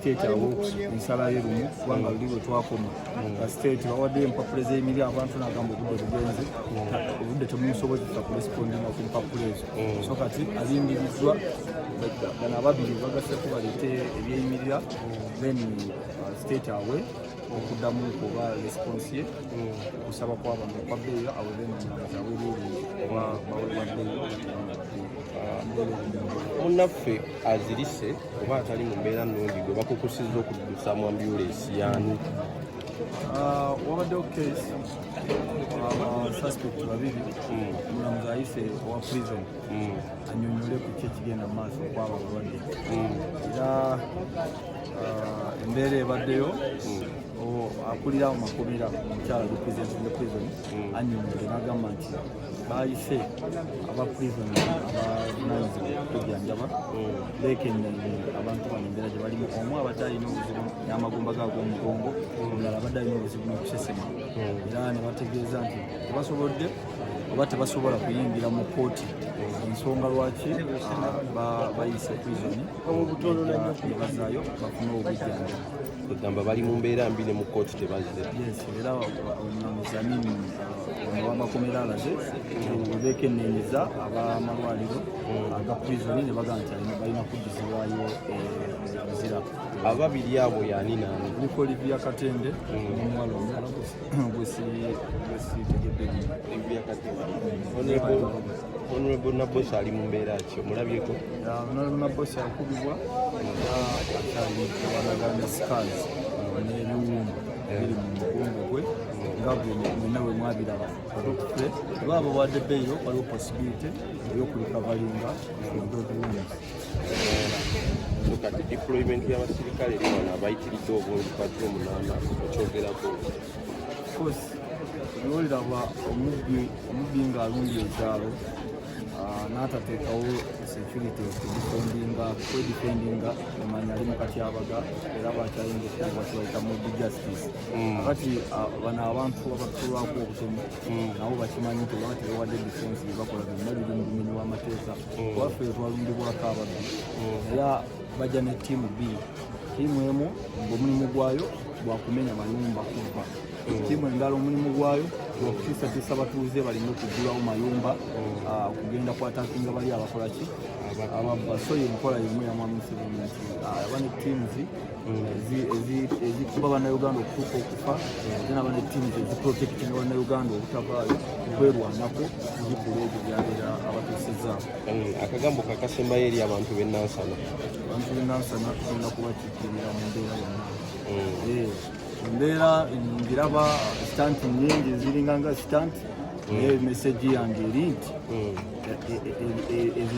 state awo ensala ye lumu kubanga luli bwe twakoma nga state bawadde empapula z'emiri abantu nagamba obudde bugenze obudde temusobozesa kuresipondinga ku mpapula ezo mm. so kati alimbiriddwa bano ababiri bagaseko baleete ebyeyimirira then uh, state awe okuddamu kuba response ye kusaba kwabano kwa bbeeyo aweze nomulamuzi awereere oba bawebwa bbeeyo munnaffe azirise oba atali mu mbeera nnungi gwe bakukusizza okuddusa mu ambulensi yaani ah, wabaddewo case abasuspect ah, babiri hmm. omulamuzi ayise owa prison hmm. anyonyole ku ki ekigenda mu maaso okwaba abalwadde hmm. era uh, embeera ebaddeyo hmm. akulira makomera omukyala representing prison hmm. anyumire nagamba nti bayise aba prison abananzi okujanjaba hmm. bekenyanye abantu bano embeera gye balimu omu abadde alina obuzibu n'amagumba ga g'omugongo omulala abadde alina obuzibu n'okusesema era ne bategeeza nti tebasobodde oba tebasobola kuyingira mu kooti ensonga lwaki ah, bayise prison nebazaayo bafuna obujjanjabi egamba bali mu mbeera mbi ne mu kooti tebazze era omulamuzi amini owamakomera alaze webekenenyeza abamalwaliro aga prizoni ne bagamba nti balina kuddizibwayo obuzira ababiri abo yani nani nikoliviya katende omuwala omuwala honorable nabosi ali mu mbeera ki omulabyeko honorable nabosi akubibwa akyaliwanaganya scars n'ebiwumbu biri mu mugongo gwe nga gwe mwena we mwabiraba oba abo wadde beeyo waliwo possibility ey'okulikabalinga obubiwumbu kati deployment y'abasirikale eri wano abayitiridde obungi patro munaana okyogerako course nolira bwa omubbi omubbi nga alumbi ekyalo ah, n'atateekawo security okudifendinga kwedifendinga emanya ali mukatyabaga era bakyayinza okuba kibayita mubbi justice mm. kati ah, bano abantu abatulwako obutemu mm. nabo bakimanyi nti oba tebawadde defense byebakola byonna biri mu bumenyi bw'amateeka mm. waffe twalumbibwako ababbi mm. era bajja ne tiimu bbiri tiimu emu ngaomulimu gwayo gwakumenya mayumba kubba tiimu endala omulimu gwayo gwakutisatisa batuuze balina okugulawo mayumba ah, kugenda kwatakinga bali abakolaki ababba so yenkola yemu yamwamusibunti ah, aba ne tiimuzi ezikuba bannayuganda okutuuka okufa ate naba ne tiimu eziprotektinga bannayuganda obutavaayo kwerwanako zikula ebyo byabeera abatuusizza mm, akagambo kakasembayo eri abantu benansana abantu benansana tugenda kubakiikirira mu mbeera yonna mm. eh, embeera ngiraba sitanti nyingi ziringa nga sitanti mm. naye mesegi yange eri nti eh, eh, ezo